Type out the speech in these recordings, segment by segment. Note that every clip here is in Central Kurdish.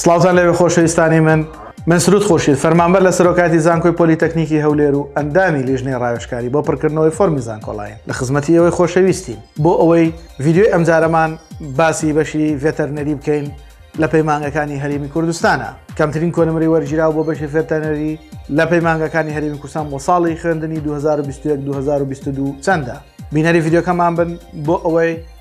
سڵاوتان لێبێ خۆشەویستانی من، من سرود خورشید، فەرمانبەر لە سەرۆکایەتی زانکۆی پۆلیتەکنیکی هەولێر و ئەندامی لیژنەی ڕاوێژکاری بۆ پڕکردنەوەی فۆرمی زانکۆلاین، لە خزمەتی ئێوەی خۆشەویستین. بۆ ئەوەی ڤیدیۆی ئەمجارەمان باسی بەشی ڤێتەرنەری بکەین لە پەیمانگەکانی هەرێمی کوردستانە. کەمترین کۆنمرەی وەرگیراو بۆ بەشی ڤێتەرنەری لە پەیمانگەکانی هەرێمی کوردستان بۆ ساڵی خوێندنی دوو هەزار و بیست و یەک دوو هەزار و بیست و دوو چەندە؟ بینەری ڤیدیۆکەمان بن بۆ ئەوەی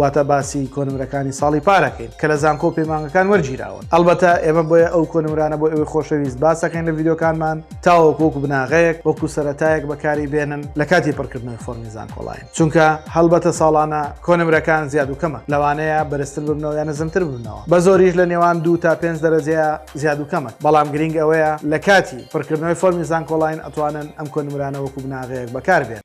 واتە باسی کۆنمرەکانی ساڵی پارەکەین کە لە زانکۆ پەیمانگەکان وەرگیراون ئەلبەتە ئێمە بۆیە ئەو کۆنمرانە بۆ ئەوەی خۆشەویست باسەکەین لە ڤیددیوکانمان تاوەکۆک بناغەیەک وەکو سەتایەک بەکاری بێنن لە کاتی پڕکردنەوەی فۆرمی زانکۆڵین چونکە هەڵبەتە ساڵانە کۆنمرەکان زیاد و کەمە لەوانەیە بەرزتر ببنەوە یان نزمتر ببنەوە بە زۆریش لە نێوان دوو تا پێنج دەرەجەیە زیاد و کەمە بەڵام گرنگ ئەوەیە لە کاتی پڕکردنەوەی فۆرمی زانکۆڵین ئەتوانن ئەم کۆنمرانە وەکو بناغەیەک بەکاربێن